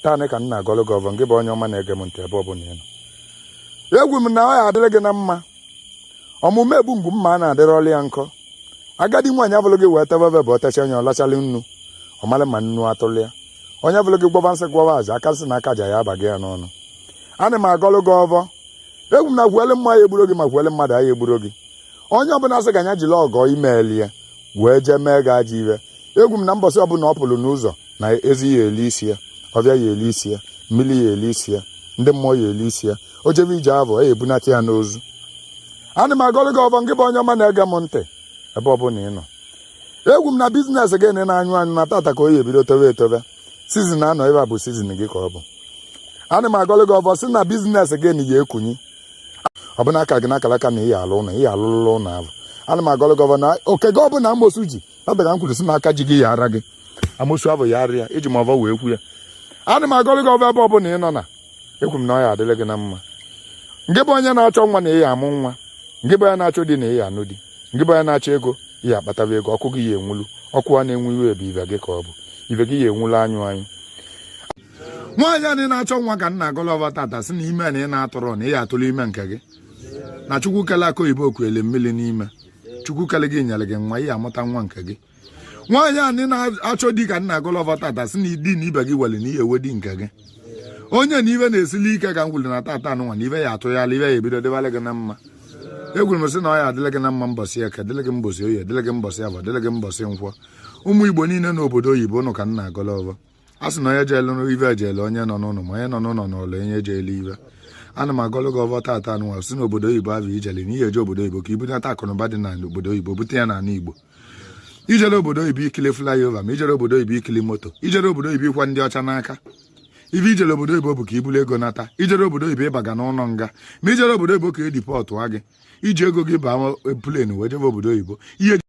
taanị ka m na-agọlụ gị ọvọ ngị bụ onye ọma na-ege m ntị ebe ọ bụla ị nọ ekwu m na ọ ya adịrị gị na mma ọmụmụ egbu mgbu mma a na-adịrị ọlụ ya nkọ agadi nwaanyị abụlụ gị wee tebe bụ o techaa onye ọ lachalị nnu ọ malị ma nnu atụlụ ya onye abụlụ gị gwọba nsị gwọba aja aka nsị na aka aja ya abaghị ya n'ọnụ ana m agọlụ gị ọvọ ekwu m na gwuele mmụọ ya egburo gị ma gwuele mmadụ ya egburo gị onye ọbụla sị ka nya jiri ọgọ i meeli ya wee jee mee gị ajọ ive ekwu m na mbọsị ọbụla ọ pụrụ n'ụzọ na ezi ya eli isi ya ọvịa ya eli isi ya mmiri ya eli isi ya ndị mmụọ ya eli isi ya o jebe ije va ya ebunata ya n'ozu ana m agọlụ gị ọvọ ngị bụ onye ọma na-ege m ntị ebe ọ bụla ị nọ ekwu m na biznes gị na-anyụ anyụ na tata ka ọ ya ebido tobe etobe sizin anọ ebe a bụ sizin gị ka ọ bụ ana m agọlụ gị ọvọ sị na biznes gị na ya ekunyi ọ bụ n'aka gị n'akara aka na ị ya alụ ụlọ ị ya alụlụla ụlọ ahụ ana m agọlụ gị ọvọ na oke gị ọbụla amosu ji tata ka m kwuru sị na aka ji gị ya ara gị amosu ahụ ya ara ya eji m ọvọ wee kwu ya ana m agọlụ gị ọvọ ebe ọ bụla ị nọ na ekwu m na ọ ya adịrị gị na mma ngị bụ onye na-achọ nwa na ị ya amụ nwa ngị bụ onye na-achọ di na ị ya anụ di ngị bụ onye na-achọ ego ị ya akpataba ego ọkụ gị ya enwulu ọkụ a na-enwu ive ebe ive gị ka ọ bụ ive gị ya enwulu anyụ anyụ nwaanyị anị na-achọ nwa ka m na-agọlụ ọvọ tata sị na ime na ị na-atụrụ na ị ya atụrụ ime nke gị na chukwu kele akụ oyibo o kuele mmiri n'ime chukwu kele gị nyere gị nwa ị ya amụta nwa nke gị nwaanyị anị na-achọ di ka m na-agọlụ ọvọ tata sị na di na ibe gị wele na ị ya ewe di nke gị onye na ive na-esili ike ka m kwulu na tata anụnwa na ive ya atụghala ive ya ebido dịbalị gị na mma ekwuru m sị na ọ ya adịlị gị na mma mbọsị eke dịlị gị mbọsị oye dịlị gị mbọsị avọ dịlị gị mbọsị nkwọ ụmụ igbo niile n'obodo oyibo ụnụ ka m na-agọlụ ọvọ a sị na onye jeelu ive jeele onye nọ n'ụlọ ma onye nọ n'ụlọ nọọlụ onye jeele ive ana m agọlụ gị ọvọ tata nwa sị na obodo oyibo ahụ i jele na ị ya eje obodo oyibo ka i bunata akụnụba dị n'ala obodo oyibo bute ya n'ala igbo i jero obodo oyibo ikili flyover ma i jero obodo oyibo ikili moto i jero obodo oyibo ịkwa ndị ọcha n'aka ive i jere obodo oyibo bụ ka i bulu ego nata i jero obodo oyibo ịbaga n'ụlọ nga ma i jero obodo oyibo ka e dipọtụa gị i ji ego gị baa plen wee jebe obodo oyibo ị ya